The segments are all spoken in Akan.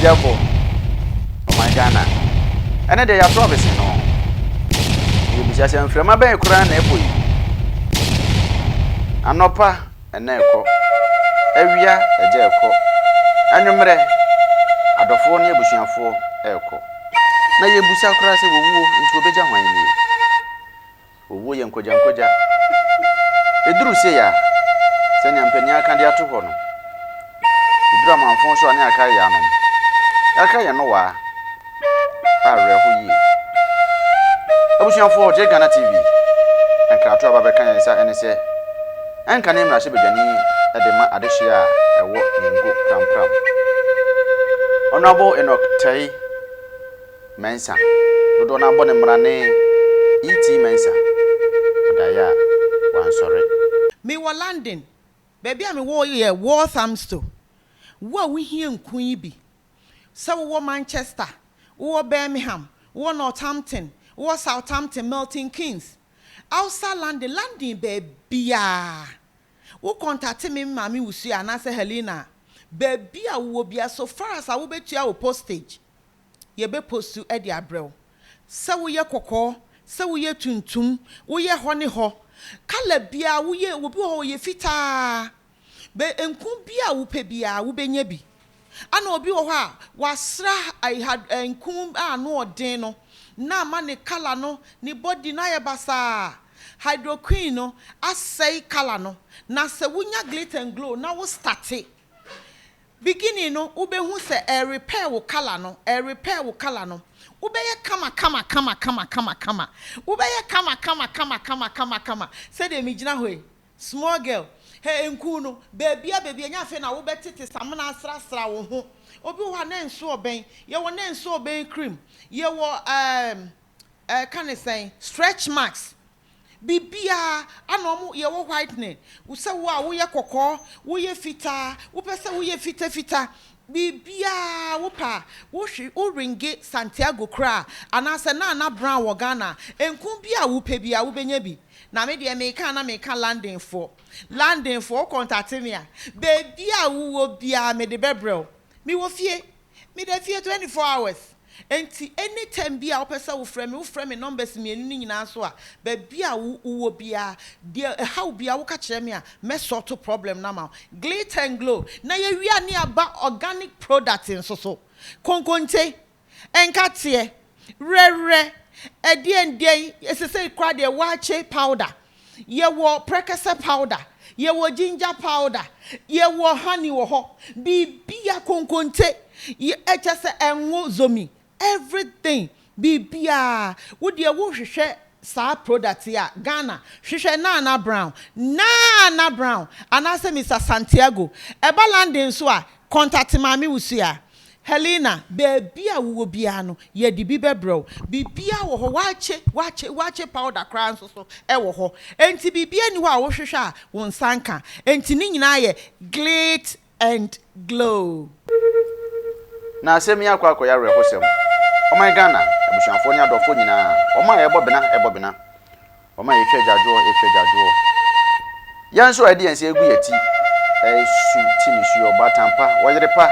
Adesua kɔ ɔman Ghana. Ɛnɛ deɛ yɛato abese no. Yɛbisa sɛ mframa bɛn koraa na ɛbɔ yi? Anɔpa ɛna ɛkɔ, awia agya ɛkɔ, anwummerɛ adɔfoɔ ne abusuafoɔ ɛrekɔ. Na yɛbisa koraa sɛ wɔwuo nti wɔbɛgya hwan nie? Owuo yɛ nkogyankogya. Ɛduru sei a, sɛnea mpanin aka de ato hɔ no, ɛduru amanfõ so a ne akra yɛ anom. Akra yɛ nnowaa a awerɛho yie. Abusuafoɔ, Ɔgyeɛ Ghana TV nkratoɔ a ɛba bɛka yɛn nsa ne sɛ, ɛnka ne mmarahyɛbadwani de ma adehyeɛ a ɛwɔ Nengo Prampram, Honourable Enoch Tay, Mensah, dodoɔ no ara bɔ ne mmara ne ET Mensah, ɔdaeɛ a wansɔre. Mewɔ London. Baabi a mewɔ yɛ Walthamstow. Wo a wohia nku yi bi, sɛ wowɔ Manchester, wowɔ Birmingham, wowɔ Northampton, wowɔ Southampton, Milton Keynes, outside London, London baabiara, wo kɔntate me Maame Wusu anaasɛ Helena a, baabi a wowɔ biara, so far as a wobɛtua wo postage. yɛbɛpostu de abrɛ wo. Sɛ woyɛ kɔkɔɔ, sɛ woyɛ tuntum, woyɛ hɔ ne hɔ, colour biara woyɛ, obi wɔ hɔ ɔyɛ fitaa, bɛ nku bi a wopɛ biara wobɛnya bi. Ɛna obi wɔ hɔ a wɔasra ha nku a ano ɔden no na ama ne colour no, ne body no ayɛ basaa. Hydroquin no asɛe colour no. Na sɛ wonya Glitz and Glow na wo starte Beginning no wobɛhu sɛ ɛrerepair wo colour no, ɛrerepair wo colour no. Wobɛyɛ kama kama kama kama kama kama. Wobɛyɛ kama kama kama kama kama kama. Sɛdeɛ megyina hɔ yi, small girl, hɛ nkuu no, baabiara baabiara, ɛnyɛ afei na wobɛtete samena asrasra wo ho. Obi wɔ hɔ a na nso ɔbɛn, yɛwɔ na nso ɔbɛn cream, yɛwɔ ɛɛm, ɛɛka no sɛn, stretch marks, Biribiara, ana wɔn yɛ wo whitening, sɛ wo a woyɛ kɔkɔɔ, woyɛ fitaa, wopɛ sɛ woyɛ fitafita, biribiara wo pɛ a, wo hwe, wo ringe Santiago koraa, anaasɛ Nana Brown wɔ Ghana a, nku bi a wo pɛ biara wo bɛnya bi. Na me deɛ meka a na meka Londonfoɔ, Londonfoɔ, wo contate me a, baabi a wo wɔ biara me de bɛbrɛ wo. Me wɔ fie. Me da fie twenty four hours nti any time bi a wo pɛ sɛ wo frɛ me wo frɛ me numbers mmienu no nyinaa so a baabi a wo wɔ biara deɛ ɛhaw wo biara wo ka kyerɛ me a mɛ sort problem no ama wo Glitter and glow na yɛ wia ne aba organic product nso so konkonte Nkateɛ, werɛwerɛ, ɛdeɛndeɛn, sesei koraa deɛ waakye powder, yɛwɔ prɛkɛsɛ powder, yɛwɔ ginger powder, yɛwɔ honey wɔ hɔ, biribiara, konkonte, kyerɛ sɛ ɛnwo zomi, everything, biribiara, wo deɛ wohwehwɛ saa product yi a, Ghana, hwehwɛ Nana Brown, Nana Brown, anaasɛ Mister Santiago. Ɛba London nso a, contact Maame Wusu a. Helena, Baabi a wowɔ biara no, yɛde bi bɛbrɛ wo. Biribiara wɔ hɔ, wɔakye, wɔakye, wɔakye powder koraa nso so wɔ hɔ. Enti biribiara nni hɔ a wohwehwɛ a wo nsa nka. Enti ne nyinaa yɛ glit and glow. Na asɛm yi akɔ akɔyɛ awerɛhosɛm. Ɔman Ghana, abusuafoɔ ne adɔfoɔ nyinaa, wɔn a yɛbɔ bena, yɛbɔ bena. Wɔma yɛtwa agyaadwoɔ, yɛtwa agyaadwoɔ. Yɛn nso a ɛde yɛn nsa agu yɛn ti resu ti nisuo, ɔbaatan pa, ɔyere pa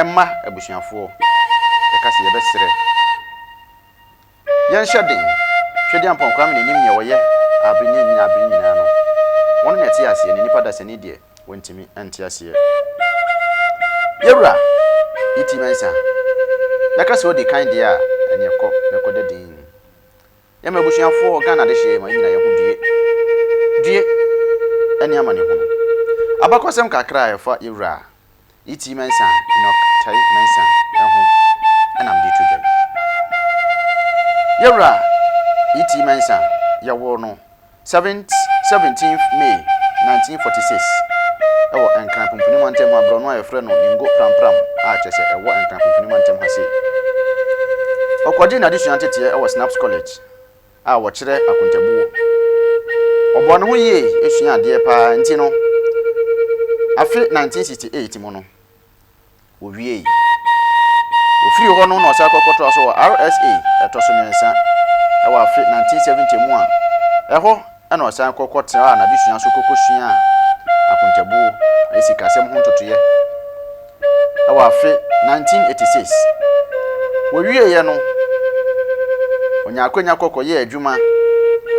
mma abusuafoɔ. Yɛka sɛ yɛbɛsrɛ. Yɛnhyɛ den. Twedeampɔn Kwame na ɛnim deɛ ɔyɛ abere ne ɛnyina abere nyinaa no. Ɔno na ɛte aseɛ na nnipa dasani deɛ wɔntumi nte aseɛ. Yɛwura E.T. Mensah, yɛka sɛ ɔdi kan deɛ a ɛneɛ kɔ na kɔda din. Yɛ m'abusuafoɔ Ghana adehyeɛ yɛ ma yɛ nyina yɛ ho due due ɛne amanehunu Abakɔsɛm kakra a ɛfa yɛ wura Itii Mensah Enoch Tei Mensah ho na mede to dwa yi Yɛ wura Itii Mensah yɛwoo no Seventh, Seventeenth May nineteen forty six, Ɛwɔ Nkran Pumpuni Mantam ha borɔno a yɛfrɛ no Ningo Prampram a kyerɛ sɛ ɛwɔ Nkran Pumpuni Mantam ha sei. Ɔkɔgyee n'adesua nteteɛ wɔ Snaps College a wɔkyerɛ akontabuo. Ɔbɔɔ ne ho yie suaa adeɛ paa nti no, afe nineteen sixty eight mu no, Wowiei. Ofiri hɔ no na ɔsan kɔkɔtoaa so wɔ RSA ɛtɔ so mmiɛnsa wɔ afe 1970 mu a ɛhɔ na ɔsan kɔkɔtraa n'adesua so kɔkɔsuaa akontabuo ne sikasɛm ho ntotoeɛ wɔ afe 1986. Wɔwieeɛ no ɔnyaa akwanya kɔ kɔyɛɛ adwuma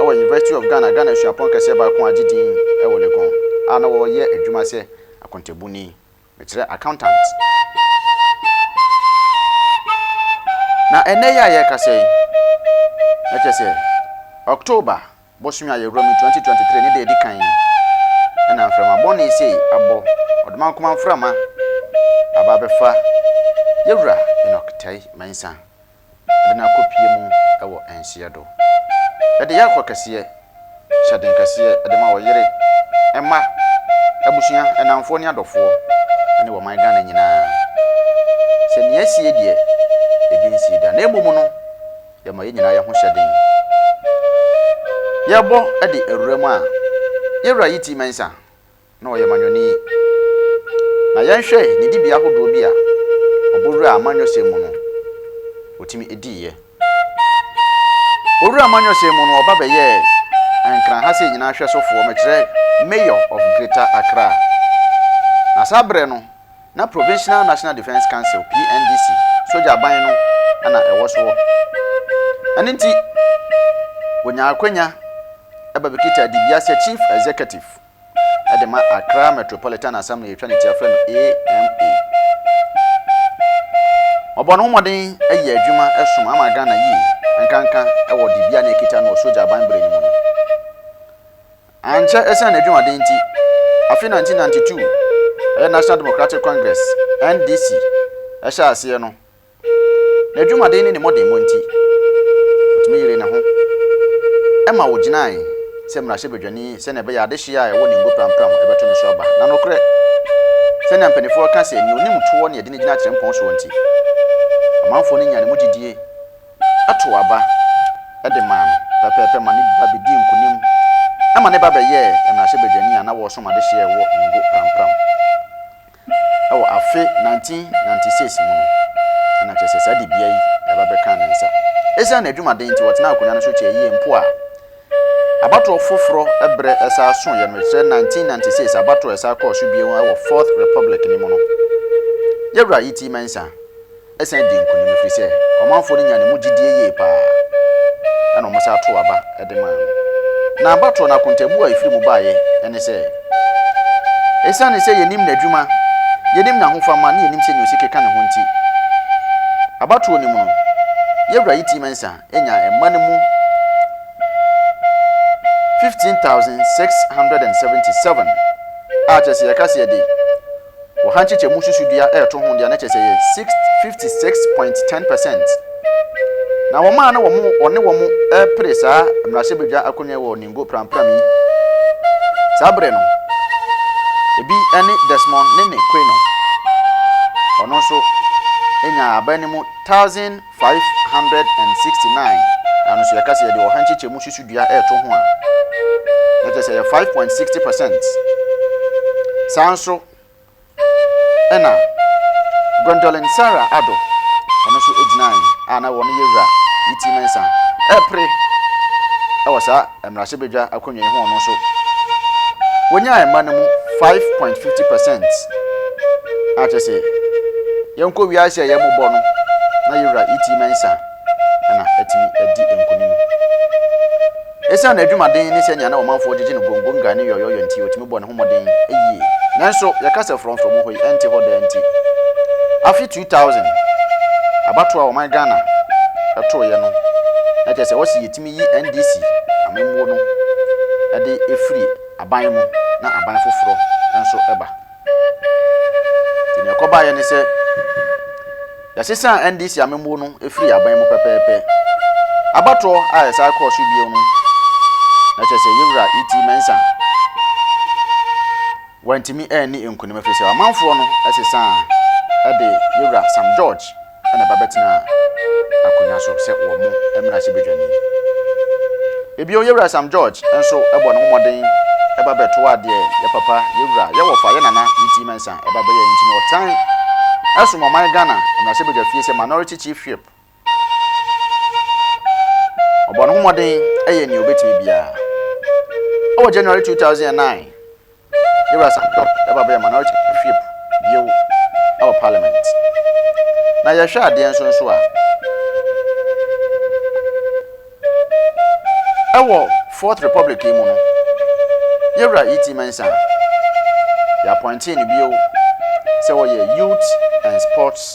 wɔ University of Ghana, Ghana suapɔn kɛseɛ baako a agye din wɔ Legon a na ɔreyɛ adwuma sɛ akontabuni. mekyerɛ accountant. Na ɛnnɛ yi a yɛrekasa yi, na kyerɛ sɛ October bosome a yɛwura mu yi, 2023, ne da a ɛdi kan yi, ɛna mframa bɔne sei abɔ, ɔdomankoma mframa aba abɛfa yɛwura Enoch Tai Mensah. de no akɔpue mu wɔ nseɛ do. Ɛde yako kɛseɛ, hyɛden kɛseɛ de ma wɔ yere, mma, abusua, nnamfoɔ ne adɔfoɔ ne wɔ man Ghana nyina ara. Sɛ nea asie deɛ ebi nsii da na mmom no yɛma yɛn nyinaa yɛ ho hyɛden. Yɛbɔ de awura mu a, Yɛwura Yiti Mensah na ɔyɛ manyɔni. Na yɛnhwɛ ne dibea ahodoɔ bi a ɔbɔ wura amanyɔsɛm mu no, ɔtumi diiɛ. Ɔwura amanyɔsɛm mu no, ɔba bɛyɛɛ Ankara ha sei nyinaa hwɛsofoɔ, mekyerɛ Mayor of Greater Accra. Na saa berɛ no, na Provincial National Defence Council, PNDC, sogya ban no na ɛwɔ soɔ. Ɛno nti, ɔnyaa akwanya ba bɛkitaa dibea sɛ Chief Executive. de ma Accra Metropolitan Assembly a yɛtwa ne ti a yɛfrɛ no AMA. Ɔbɔ ne ho mmɔden yɛ adwuma som ama Ghana yie nkanka wɔ dibea na ɛkita no wɔ sogya aban bere no mu no. Ankyɛ ɛsiane n'adwumaden nti, afe 1992 ɛyɛ National Democratic Congress, NDC, hyɛɛ aseɛ no, N'adwumaden ne ne mmɔdemmɔ nti, otumi yeree ne ho ma ogyinae sɛ mmarahyɛbadwani sɛnea ɛbɛyɛ a adehye a ɛwɔ ne ngo prampram bɛto ne so aba. Na nokorɛ, sɛnea mpanimfoɔ ka sɛ, nea onim toɔ na yɛde no gyina atirimpɔn soɔ nti, amanfoɔ no nyaa ne mu gyidie too aba de maa no pɛpɛɛpɛ ma ne ba bɛdii nkonim ma ne ba bɛyɛɛ mmarahyɛbadwani a na ɔresom adehye a ɛwɔ ne ngo prampram. wɔ afe 1996 mu no, na kyerɛ sɛ saa dibea yi na ɛba bɛkaa ne nsa. Esiane n'adwumaden nti, ɔtenaa akonnwa no so kyɛe yiye mpo a. Abatoɔ foforɔ bere san soeɛ no, ɛkyerɛ 1996 abatoɔ a ɛsan kɔɔ so bio wɔ Fourth Republic no mu no, Yawurayiti Mensah, san dii nkonim ɛfiri sɛ ɔmanfoɔ no nyaa ne mu gyidie yie pa ara, ɛnna wɔsan too aba de maa no. Na abatoɔ no akontabuo a ɛfiri mu baeɛ ne sɛ, Ɛsiane sɛ yɛnim n'adwuma, yɛnim n'ahofama ne yɛnim sɛdeɛ ɔsi keka ne ho nti, abatoɔ no mu no, yɛn wura Yiti Mensah nyaa mma no mu 15677, a kyerɛ sɛ yɛka sɛ yɛde. Wɔ ha nkyekyɛmu susudua a ɛto ho de a na kyerɛ sɛ ɛyɛ 56.10 percent. Na wɔn a na wɔn wɔne wɔn repere saa mmarahyɛbadwa akonnwa yi wɔ Ningo prampram yi saa berɛ no, ebi ne Desmond Nene Quaynor. Ɔno nso nyaa aban no mu 1,000. Five hundred and sixty nine ano so yɛka sɛ yɛde ɔha nkyekyɛmu susudua reto ho a, na kyerɛ sɛ ɛyɛ five point sixty percent. Saa nso ɛna Gwendolyn Sarah Addo ɔno nso gyinae a na wɔn yɛ wura ne ti Mensah ɛpere ɛwɔ saa Mmarahyɛbadwa akonnwa yi ho no nso, wonyaa mma no mu five point fifty percent. A kyerɛ sɛ, yɛnkɔ wiase a ɛyɛ mmɔbɔ no na yɛwura ET Mensah na atumi adi nkonim. Esiane n'adwumaden ne sɛnea na ɔmanfoɔ gyegye no gongonga ne yɔyɔyɔ nti, otumi bɔɔ ne ho mmɔden yie. Nanso, yɛka sɛ frɔmfrɔm hɔ yi ɛnte hɔ daa nti, afe two thousand abatoɔ a ɔman Ghana tooeɛ no, na kyerɛ sɛ wɔsi yɛti. Tumi yi NDC amammuo no de firi aban mu na aban foforɔ nso ba. Nti deɛ ɛkɔbaeɛ ne sɛ yɛsesaa NDC amammuo no firi aban mu pɛpɛɛpɛ. Abatoɔ a ɛsan kɔɔ so bio no na kyerɛ sɛ yɛwura E.T. Mensah wantumi anni nkunim ɛfiri sɛ ɔmanfoɔ no sesaa de yɛwura Sam George na ba bɛtenaa akonnwa so sɛ wɔn mmarahyɛbadwani. Bio, yɛn wura Sam George nso bɔɔ ne ho mmɔden ba bɛtoaa deɛ yɛn papa, yɛn wura, yɛn wɔfa, yɛn nana Iti Mensah ba bɛyɛɛ nti na ɔsan som ɔman Ghana mmarahyɛbadwa fie sɛ Minority Chief Whip. Ɔbɔɔ ne ho mmɔden yɛɛ nea ɔbɛtumi biara. Wɔ January 2009, Yɛwura Sampson bɛba abɛyɛ Minority Whip bio wɔ Parliament. Na yɛhwɛ adeɛ nso nso a, ɛwɔ Fourth Republic yi mu no, Yɛwura E.T. Mensah, yɛapɔintee no bio sɛ ɔyɛ Youth and Sports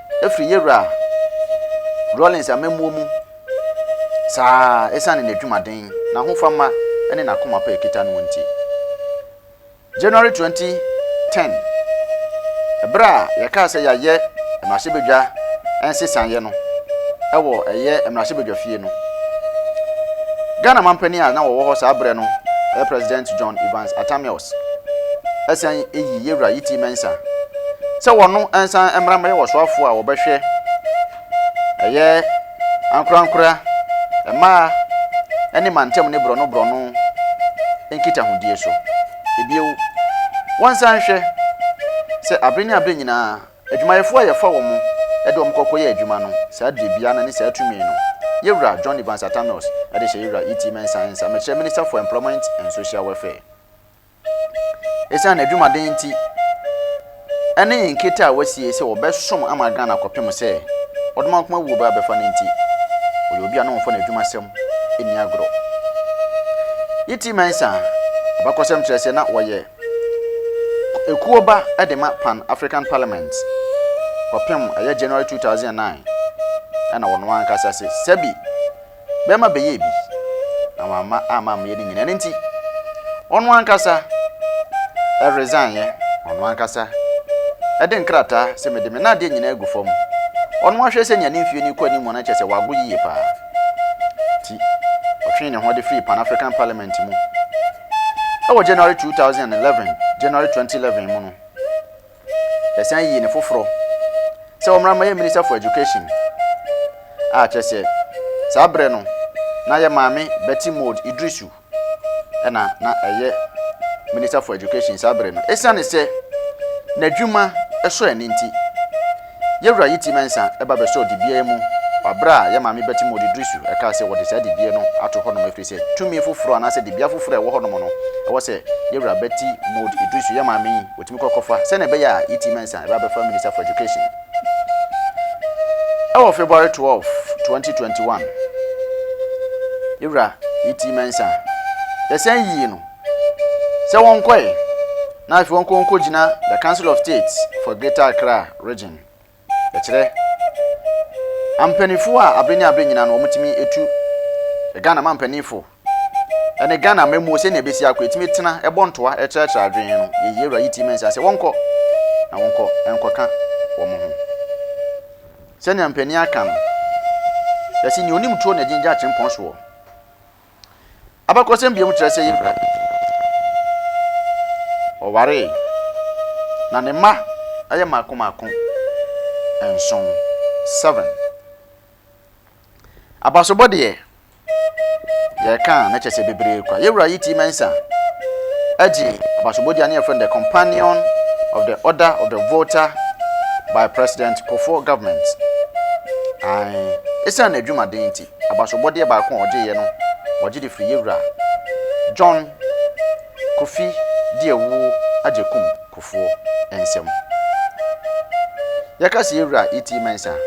afiri yɛ Wura Rawlings amammuo mu saa ara ɛsiane n'adwumaden, n'ahofama ne n'akoma pa a ɛkita noɔ nti. January 2010, berɛ a yɛkaa sɛ yɛayɛ mmarahyɛbadwa nsesaeɛ no wɔ ɛyɛ mmarahyɛbadwafie no, Ghana mampanin a na wɔwɔ hɔ saa berɛ no, President John Evans Atta Mills, ɛsan yi yɛ Wura Yiti Mensah, sɛ wɔn nsan mmra mmɛyɛ wɔsoafoɔ a wɔbɛhwɛ ɛyɛ ankorankora, mmaa ne mantam ne borɔno borɔno nkitahodie so. Ebio, wɔnsan nhwɛ sɛ abere ne abere nyinaa adwumayɛfoɔ a yɛfa wɔn de wɔn kɔ kɔyɛ adwuma no saa dibea no ne saa tumi no Yewura John Evans Atta Mills de hyɛ Yewura E. T. Mensah nsa, Mekyerɛ Minister for Employment and Social Welfare. Esiane adwumaden nti ne nkete a wɔasie sɛ wɔbɛsom ama Ghana kɔpem sɛ Ɔdomankoma wuo bɛ abɛfa no nti, ɔyɛ obi a na wɔmfa n'adwumasɛm nni agorɔ. Yiti Mensah abakɔsɛm kyerɛ sɛ na ɔyɛ ekuo ba de ma Pan African Parliament kɔpem ɛyɛ January 2009 ɛna ɔno ankasa se sɛbi bɛrima bɛyɛɛ bi, na wamma amma ammeyɛ ne nyina. Ɛno nti, ɔno ankasa ɛresannyɛ, ɔno ankasa ɛde nkrataa sɛ mede me nadeɛ nyinaa agu fam. Ɔno ahwɛ sɛ nea ne mfie no kɔ anim no kyerɛ sɛ wago yie paa. Nti, ɔtwee ne ho de firii Pan African Parliament mu. Ɛwɔ January 2011, January 2011 mu no, Yɛsan yii no foforɔ sɛ ɔmmra mmɛyɛ Minister for Education a kyerɛ sɛ saa berɛ no na yɛ maame Betty Maud Iddrisu na na ɛyɛ Minister for Education saa berɛ no. Ɛsiane sɛ n'adwuma sɔ ani nti, Yewura Yiti Mensah ba bɛsɔɔ dibea yi mu wɔ bere a yɛn Maame Betty Moore Didusu kaa sɛ wɔde saa dibea no ato hɔnom efiri sɛ tumi foforo anaasɛ dibea foforo a ɛwɔ hɔnom no ɛwɔ sɛ Yewura Betty Moore Idusu, yɛn maame yi, wɔtumi kɔ kɔfa sɛnea ɛbɛyɛ a Yiti Mensah ba bɛfa Minister for Education. Ɛwɔ February 12, 2021, Yewura Yiti Mensah, yɛsan yii no sɛ wɔnkɔe na afei wɔnkɔ nkogyina the Council of State for Greater Accra Region. Ɛkyerɛ ampanyinfo a abe ne abe nyina no wɔtumi tu Ghana ma mpanyinfo ɛne Ghana amamuo sɛnea ɛbɛsi akɔ ɛtumi tena ɛbɔ ntoa ɛkyerɛkyerɛ adwene no yɛyi awura yi ti mɛnsa sɛ wɔnkɔ na wɔnkɔ ɛnkɔka wɔn ho sɛnea mpanyin aka no yɛsi nea onim tuo na ɛgyingya kyempɔn soɔ. Abakɔsɛm bio kyerɛ sɛ Yehoram waree, na ne mma yɛ mmaako mmaako nson, seven. Abasobɔ deɛ, yɛreka a, na kyerɛ sɛ bebree kwa. Yɛwura yi T. Mensah agye abasobɔdi a ne yɛfrɛ no The Companion of the Order of the Volta by President Kufuor Government. Ae, esiane n'adwumaden nti. abasobɔdeɛ baako a ɔgyeeɛ no wɔgye de firi yɛwura John Kofi Diawuo Agyekum Kufuor nsam. Yɛka sɛ yɛwura E.T. Mensah a,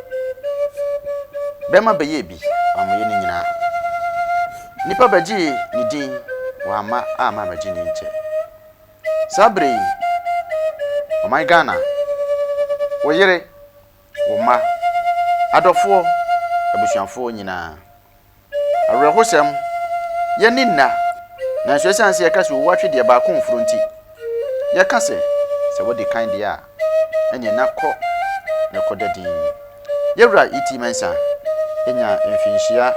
bɛrima bɛyɛɛ bi ammaeɛ no nyinaa. Nnipa bɛgyee ne din, wamma amma ammɛgye ne nkyɛ. Saa berɛ yi, ɔman Ghana, wo yere Wo mma, adɔfoɔ, abusuafoɔ nyinaa. Awerɛhosɛm, Yɛnni nna, nanso ɛsiane sɛ yɛka sɛ owu atwe deɛ baako mforo nti, yɛka sɛ, Sɛ wadi kan deɛ a, ɛnneɛ na kɔ na kɔda dinn. Yɛn Wura E. T. Mensah nyaa mfinhyia.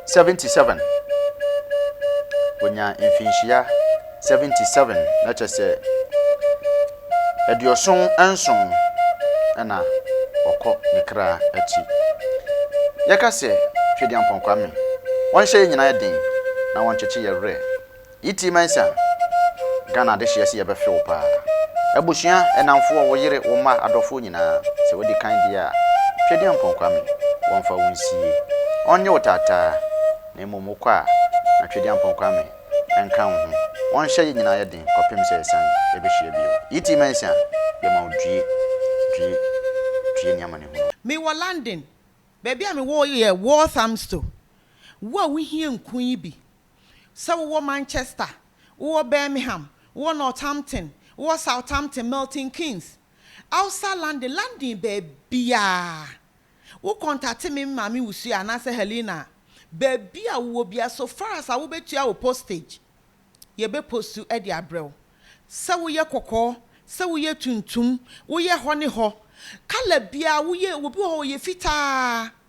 77 wɔnyaa mfinhyia 77 na kyɛ sɛ aduɔson nson ɛna ɔkɔ ne kra akyi yɛka sɛ Twedeampɔn Kwame wɔnhyɛ yɛ nyinaa den na wɔnkyekye yɛ werɛ Yiti Mensah, Ghana adehyeɛ se yɛbɛfe wo paa. Abusua, nnamfoɔ, wo yere, wo mma, adɔfoɔ nyinaa, sɛ wadi kan deɛ a, Twedeɛ Mpong Kwame, wɔmfa wo nsie. Ɔnnye wo taataa, na mmom wo kɔ a, na Twedeɛ Mpong Kwame nka wo ho. Ɔnhyɛ yɛ nyinaa yɛ den kɔpem sɛ yɛsan yɛbɛhyia bio. Yiti Mensah, yɛma wo due, due, due ne amanehunu. Mewɔ London, baabi a mewɔ yɛ Walthamstow. Wo a wohia nku yi bi, Sɛ wowɔ Manchester, wowɔ Birmingham, wowɔ Northampton, wowɔ Southampton, Milton Keynes, outside London, London baabiaa, wo kɔntate me me maame Ursula anaasɛ Helena a, baabi a wowɔ biaa, so far as a wobɛtua wo postage, yɛbɛ postu de abrɛ wo. Sɛ woyɛ kɔkɔɔ, sɛ woyɛ tuntum, woyɛ hɔ ne hɔ, colour biaa, woyɛ, obi wɔ hɔ ɔyɛ fitaa,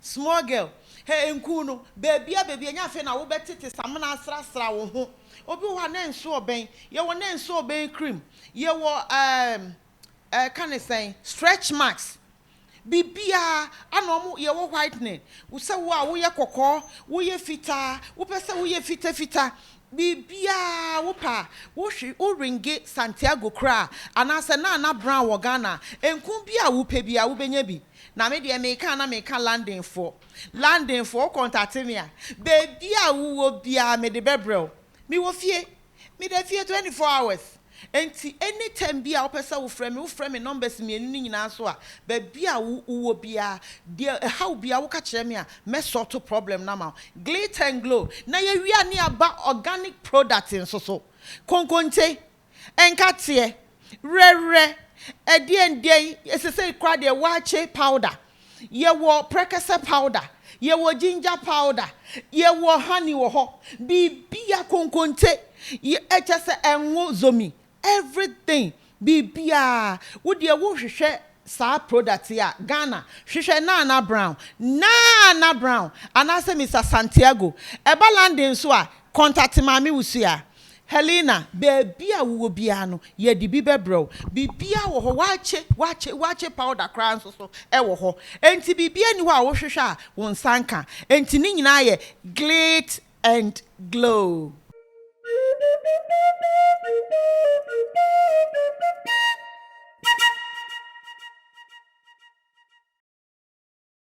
Small girl, hɛ nkuu no, baabia baabia ɛnyɛ afei na wobɛtete samena asrasra wo ho. Obi wɔ hɔ a na nso ɔbɛn, yɛwɔ na nso ɔbɛn cream, yɛwɔ ɛɛm ɛɛka ne sɛn, stretch marks, biribiaa ana ɔmo, yɛwɔ whitening, sɛ wo a woyɛ kɔkɔɔ, woyɛ fitaa, wopɛ sɛ woyɛ fita fita, Biribiara a wopɛ a, wohwe, wo ringe, Santiago koraa, anaasɛ Nana Brown wɔ Ghana a, enku bi a wopɛ biara, wobɛnya bi. Na me deɛ, meka a na meka Londonfoɔ. Londonfoɔ, wo kɔntate me a, baabi a wowɔ biara mede bɛbrɛ wo. Mewɔ fie. Meda fie twenty four hours. Enti any time biaa wopɛ sɛ wofrɛ me, wofrɛ me numbers mmienu no nyinaa so a, baabi a wo wowɔ biaa, deɛ ɛhaw biaa woka kyerɛ me a, mɛ sort problem no ama wo. Glit and Glow na yɛwia ne aba organic product nso so. Konkonte, nkateɛ, werɛwerɛ, ɛdeɛn deɛn, sesei koraa deɛ waakye powder. Yɛwɔ prɛkɛsɛ powder, yɛwɔ ginger powder, yɛwɔ honey wɔ hɔ, biribiara, konkonte, yɛ, kyerɛ sɛ ngo, zomi, everything, biribiara. Wo deɛ wohwehwɛ saa product yi a, Ghana, hwehwɛ Nana Brown, Nana Brown, anaasɛ Mister Santiago. Ɛba London nso a, contact Maame Wusu a. Helena, Baabi a wowɔ biara no, yɛde bi bɛbrɛ wo. Biribiara wɔ hɔ, wɔakye, wɔakye, wɔakye powder koraa nso so wɔ hɔ. Enti biribiara nni hɔ a wohwehwɛ a wo nsa nka. Enti ne nyinaa yɛ glit and glow.